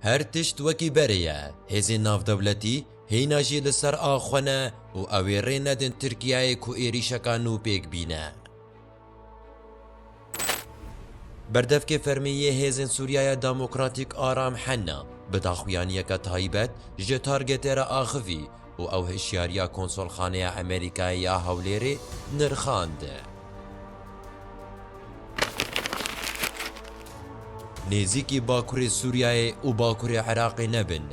Her tişt wekî berê ye, hêzên navdewletî hîna jî li ser a xwe ne û ew ê rê nedin Tirkiyeyê ku êrîşeka nû pêk bîne. Berdevkê fermî yê Hêzên Sûriyaya Demokratîk Aram Henna bi daxuyaniyeke taybet ji targetê re axivî, û ew hişyariya Konsolxaneya Amerîkayê ya Hewlêrê nirxand. Nêzîkî Bakurê Sûriyeyê û Bakurê Iraqê nebin.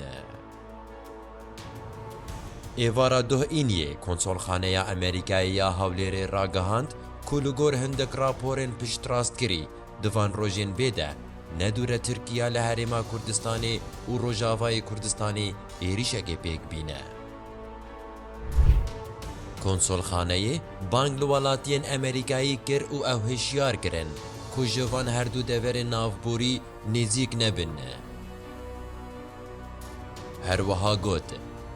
Êvara duh Îniyê Konsolxaneya Amerîkayê ya Hewlêrê ragihand ku li gor hindik raporên piştrastkirî Di van rojên vê de ne dû re Tirkiya li Herêma Kurdistanê û Rojavayê Kurdistanê êrîşekê pêk bîne. Konsolxaneyê bang li welatiyên Emerîkayê kir û ew hişyar kirin ku ji van her dû deverên navborî nêzîk nebin. Her wiha got,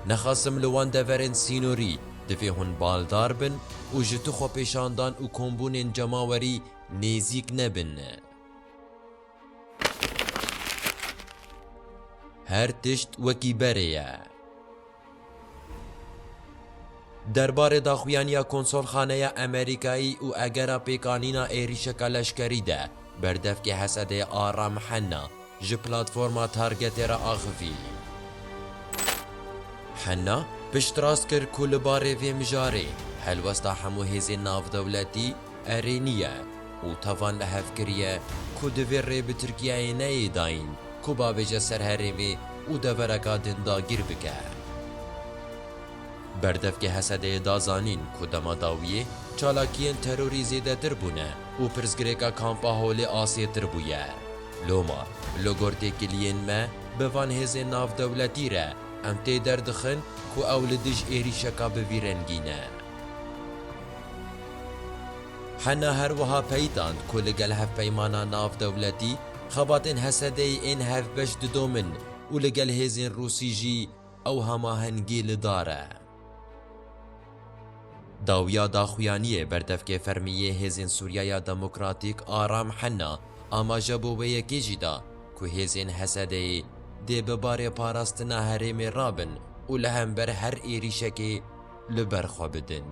Nexasim li wan deverên sînorî divê hûn baldar bin û ji tu xwepêşandan û kombûnên cemawerî Nêzîk nebin. Her tişt wekî berê ye. Derbarê daxuyaniya Konsolxaneya Amerîkayî û egera pêkanîna êrîşeka leşkerî de berdevkê Hesedê Aram Henna, Ji platforma Targetê re axivî. Henna, piştrast kir ku li barê vê mijarê helwesta hemû hêzên navdewletî erênî ye û tevan li hev kiriye ku divê rê bi Tirkiyeyê neyê dayîn ku bavêje ser herê vê û devereka din dagîr bike. Berdevkê Hesedeyê da zanîn ku dema dawiyê çalakiyên terorî zêdetir bûne û pirsgirêka Kampa Holê asêtir bûye. Loma, li gor têkiliyên me bi van hêzên navdewletî re, em tê derdixin ku ew li dij êrîşeka bi vî rengî ne. Hena her wiha peyitand ku li gel hevpeymana navdewletî, xebatên Hesedeyê ên hevbeş didomin û li gel hêzên Rûsî jî ew hemahengî li dar e. Dawiya daxuyaniyê berdevkê fermî yê Hêzên Sûriyaya Demokratîk a Ram Henna amaje bo wê yekê jî da ku hêzên HSD'ê dê bi barê parastina herêmê re bin û li hember her êrîşekê li ber xwe bidin.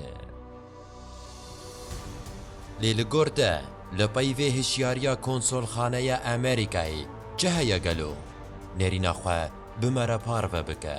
Lê li gor te li pey vê hişyariya Konsolxaneya Amerîkayê çi heye gelo? Nêrîna xwe bimere parve bike.